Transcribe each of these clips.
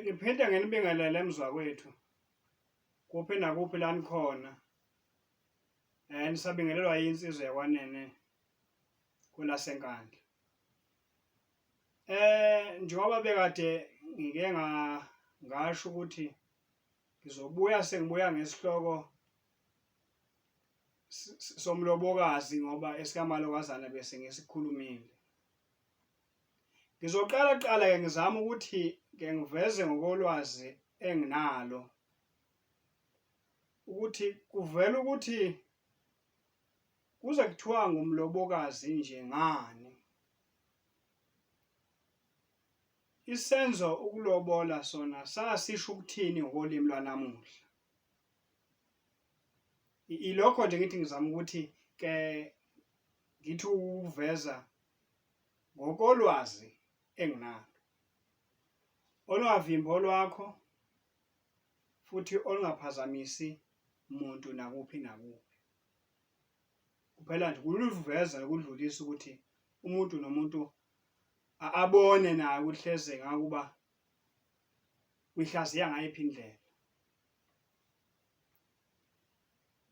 Ngiphinda nginibingelele emzwakwethu kuphi nakuphi la nikhona um nisabingelelwa yinsizwa yakwanene kwelasenkandla um njengoba bekade ngike ngasho ukuthi ngizobuya sengibuya ngesihloko somlobokazi ngoba esikamalokazana bese ngisikhulumile Ngizoqala kuqala ke ngizama ukuthi ke ngiveze ngokolwazi enginalo ukuthi kuvela ukuthi kuze kuthiwa ngumlobokazi nje ngani isenzo ukulobola sona sasisho ukuthini ngokolimi lwanamuhla ilokho nje ngithi ngizama ukuthi ke ngithi ukuveza Ngokolwazi enginalo, olungavimbi olwakho futhi olungaphazamisi muntu nakuphi nakuphi. Kuphela nje kuluveza nokudlulisa ukuthi umuntu nomuntu abone naye ukuthi hleze ngakuba uyihlaziya ngayiphi indlela.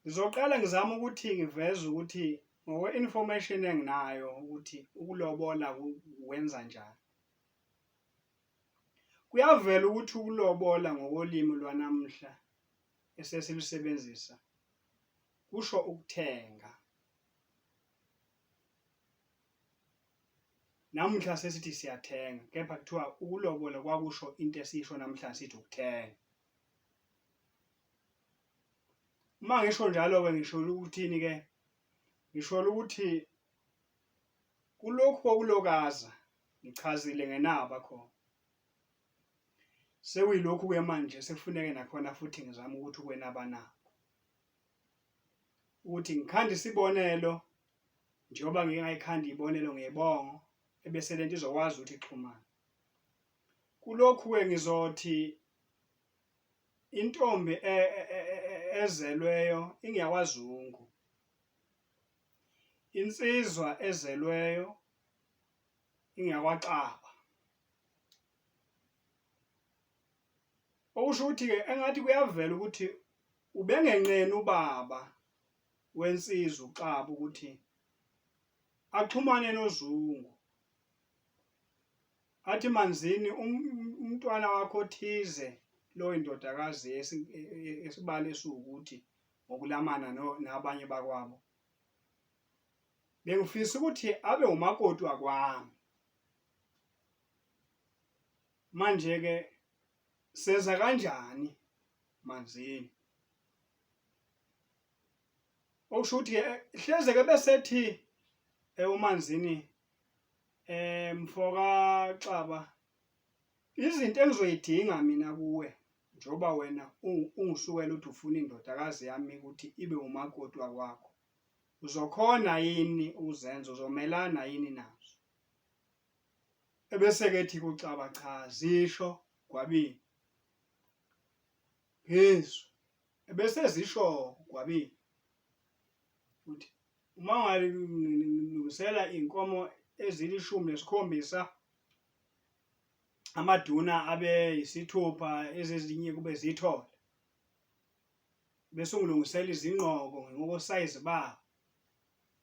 Ngizoqala ngizama ukuthi ngiveze ukuthi ngokwe-information enginayo ukuthi ukulobola wenza njani. Kuyavela ukuthi ukulobola ngokolimi lwanamuhla esesilusebenzisa kusho ukuthenga. Namuhla sesithi siyathenga kepha kuthiwa ukulobola kwakusho into esiyisho namhla sithi ukuthenga. uma ngisho njalo-ke ngisholo ukuthini-ke ngisholo ukuthi kulokhu kokulokaza ngichazile ngenaba khona sekuyilokhu-ke manje sekufuneke nakhona futhi ngizame ukuthi ukwenaba nabo ukuthi ngikhanda isibonelo njengoba ngingayikhanda ibonelo ngebongo ebese lento izokwazi ukuthi ixhumane kulokhu-ke ngizothi intombi e, e, e, ezelweyo ingeyakwazungu insizwa ezelweyo ingeyakwaxaba okusho ukuthi-ke engathi kuyavela ukuthi ubengenqeni ubaba wensizwa uxaba ukuthi axhumane nozungu Athi manzini um-, umntwana wakho othize loyo ndodakazi e-, e-, esibali esiwukuthi ngokulamana nabanye bakwabo bengifisa ukuthi abe umakoti wakwami manje ke seza kanjani manzini okusho ukuthi hleze ke besethi ewumanzini Eh mfoka Xaba izinto engizoyidinga mina kuwe njoba wena ungisukela uthi ufuna indodakazi yami ukuthi ibe umakoti wakwakho uzokhona yini uzenzo uzomelana yini nazo ebese kethi kucaba cha zisho gwabini phezu ebese zisho gwabini uthi Uma ungalungisela iy'nkomo ezilishumi nesikhombisa amaduna abe yisithupha ezezinye kube zithole bese ungilungisela izingqoko ngokosayizi babo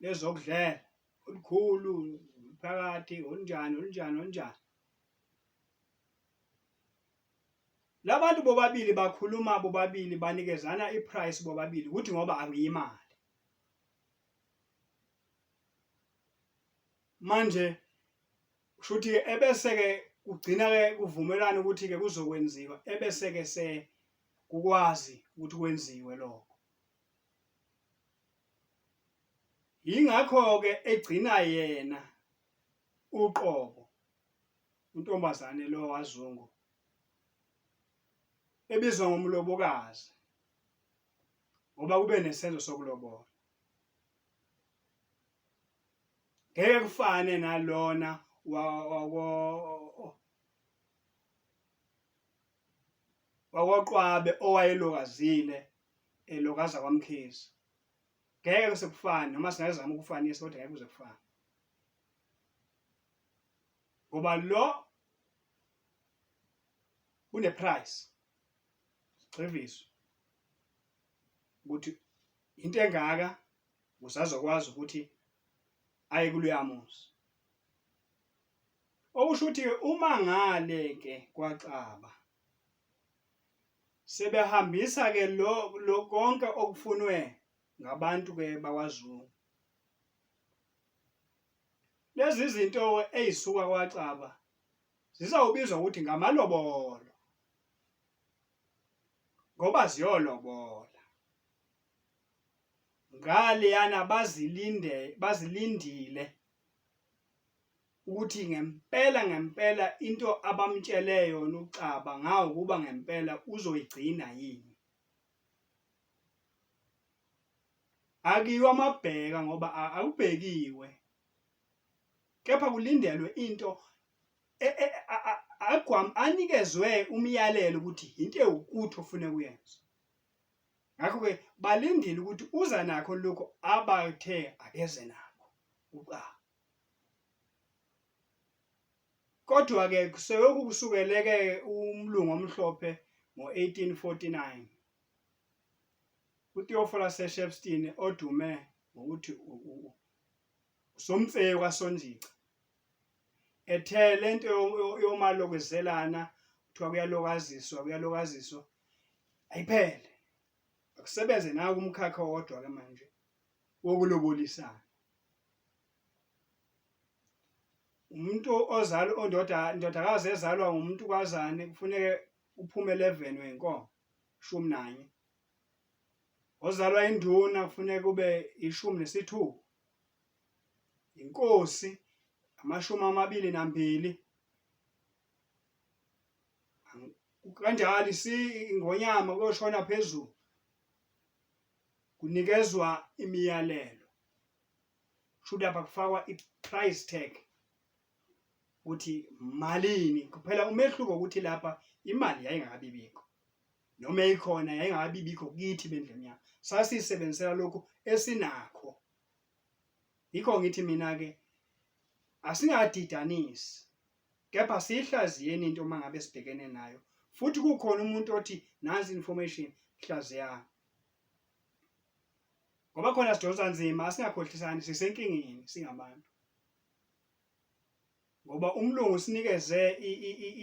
lezokudlela olukhulu phakathi olunjani olunjani olunjani labantu bobabili bakhuluma bobabili banikezana iprice bobabili ukuthi ngoba angiyimali manje kushuthi ke ebese ke kugcina ke kuvumelana ukuthi ke kuzokwenziwa ebese ke se kukwazi ukuthi kwenziwe lokho yingakho ke egcina yena uqobo untombazane lo wazungu ebizwa ngomlobokazi ngoba kube nesenzo sokulobola ngeke kufane nalona wako wakoqwabe owayelokazile elokaza kwamkhizi ngeke kuse kufane noma singazama ukufanisa kodwa ngeke kuze kufane ngoba lo une price sigxiviswe ukuthi into engaka usazokwazi ukuthi aye kuloyamuzi okusho ukuthi uma ngale ke kwaxaba sebehambisa ke lo lokonke okufunwe ngabantu ke bakwaZulu lezi zinto ezisuka kwaxaba zizawubizwa ukuthi ngamalobolo ngoba ziyolobola ngaleyana bazilinde bazilindile ukuthi ngempela ngempela into abamtshele yona uXaba ngawo kuba ngempela uzoyigcina yini akiwa amabheka ngoba akubhekiwe kepha kulindelwe into e, e, agwam anikezwe umyalelo ukuthi into ewukuthi ofune kuyenza ngakho ke balindile ukuthi uza nakho lokho abathe akeze nakho uqa kodwa ke kuseyoku kusukeleke umlungu omhlophe ngo-1849 uTheophilus Shepstein odume ngokuthi Somtseyo kaSonjica ethe lento yomalokezelana kuthiwa kuyalokaziswa kuyalokaziswa ayiphele akusebenze naku umkhakha wodwa ke manje wokulobolisana umuntu ozala ondoda indodakazi ezalwa umuntu kwazane kufuneke uphume 11 wenkomo shumi nanye ozalwa induna kufuneka kube ishumi nesithupha inkosi amashumi amabili nambili kanjalo ingonyama kuyoshona phezulu kunikezwa imiyalelo should lapha kufakwa i-price tag ukuthi malini kuphela umehluko ukuthi lapha imali yayingakabibikho noma eyikhona yayingakabi bikho kithi bendlini yami sasisebenzisela lokhu esinakho yikho ngithi mina ke asingadidanisi kepha siyihlaziyeni into uma ngabe sibhekene nayo futhi kukhona umuntu othi nansi information hlaziya ngoba khona sidonsa nzima asingakhohlisani sisenkingeni singabantu ngoba umlungu sinikeze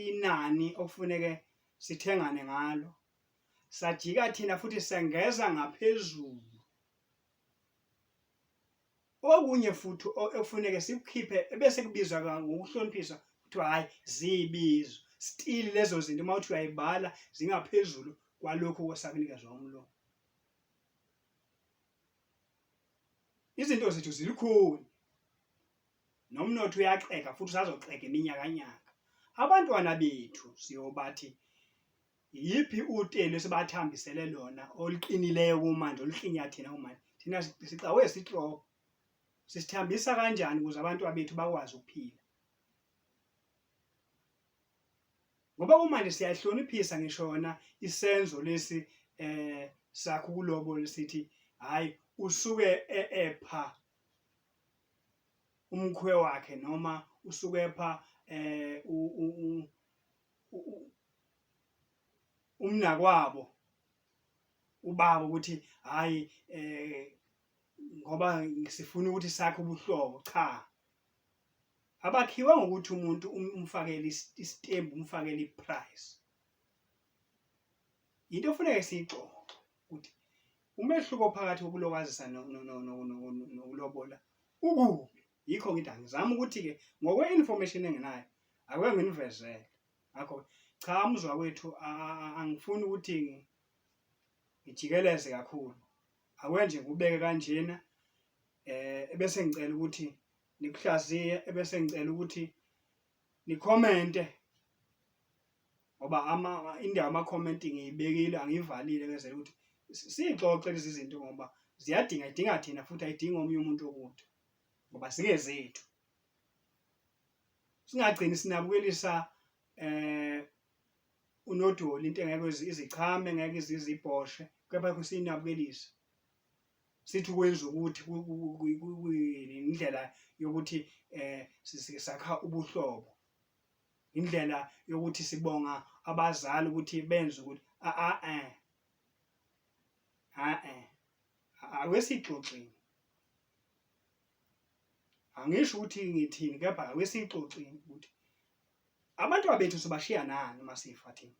inani okufuneke sithengane ngalo sajika thina futhi sengeza ngaphezulu okunye futhi okufuneke sikukhiphe ebese kubizwa ngokuhloniphisa kuthiwa hhayi ziyibizo stili lezo zinto uma uthi uyayibala zingaphezulu kwalokhu kwesakunikezwa umlomo izinto zethu zilikhuni nomnotho uyaxega futhi usazoxega iminyakanyaka abantwana bethu siyobathi yiphi utelo esibathambisele lona oluqinileyo kumanje oluhlinya thina kumanje thina sicawe sihloko sisithambisa kanjani ukuze abantu bethu bakwazi ukuphila ngoba kumanje siyahloniphisa ngisho yona isenzo lesi eh sakho kulobo lesithi hayi usuke e-, epha umkhwe wakhe noma usuke epha eh umnakwabo ubaba ukuthi hayi eh ngoba sifuna ukuthi sakhe ubuhlobo cha abakhiwa ngokuthi umuntu um, umfakele istembu umfakele iprice into ofuneka siyixoxe ukuthi umehluko phakathi kokulokazisa nokulobola ukuphi yikho ngithi angizama ukuthi-ke ngokwe-information enginayo ake nginivezele ngakho cha umzwa wethu angifuni ukuthi ngijikeleze kakhulu akwenje ngikubeke kanjena um ebese ngicela ukuthi nikuhlaziye ebese ngicela ukuthi nikhomente ngoba ama indawo ama comment ngiyibekile angivalile ngezela ukuthi sixoxe lezi zinto ngoba ziyadinga idinga thina futhi ayidingi omunye umuntu okude ngoba singezethu singagcini sinabukelisa eh unodoli into engeke izichame ngeke izibhoshe kepha kusinabukelisa sithi ukwenza ukuthi indlela yokuthi eh sakha ubuhlobo indlela yokuthi sibonga abazali ukuthi benze ukuthi a a eh a eh awesixoxini angisho ukuthi ngithini kepha awesixoxini ukuthi abantwana bethu sibashiya nani masifa thina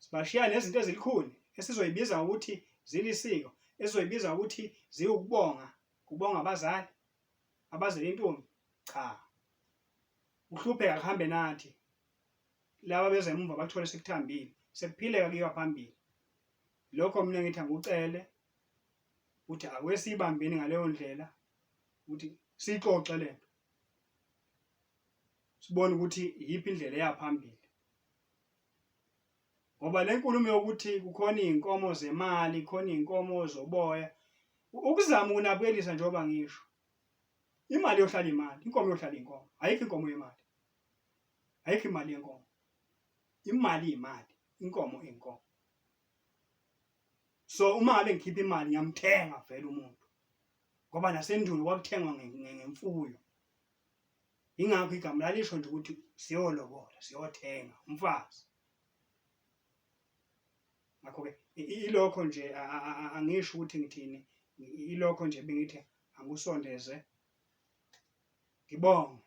sibashiya nezinto ezilikhuni esizoyibiza ukuthi zilisiko esizoyibiza ukuthi ziwukubonga kubonga abazali abazele intombi cha uhlupheka kuhambe nathi laba beze emuva bathole sekuthambile sekuphileka kuyiwa phambili lokho mina ngithi angikucele ukuthi awesibambeni ngaleyo ndlela ukuthi sixoxe lento sibone ukuthi iyiphi indlela eya phambili ngoba le nkulumo yokuthi kukhona iy'nkomo zemali khona iy'nkomo zoboya ukuzama ukunabuyelisa njengoba ngisho imali yohlala imali inkomo yohlala inkomo ayikho inkomo yemali ayikho imali yenkomo imali imali inkomo inkomo so uma ngabe ngikhipha imali ngiyamthenga vele umuntu ngoba nasendulo kwakuthengwa ngemfuyo Yingakho igama lalisho nje ukuthi siyolobola, siyothenga umfazi. Ngakho-ke ilokho nje angisho ukuthi ngithini, ilokho nje bengithi angikusondeze. Ngibonge.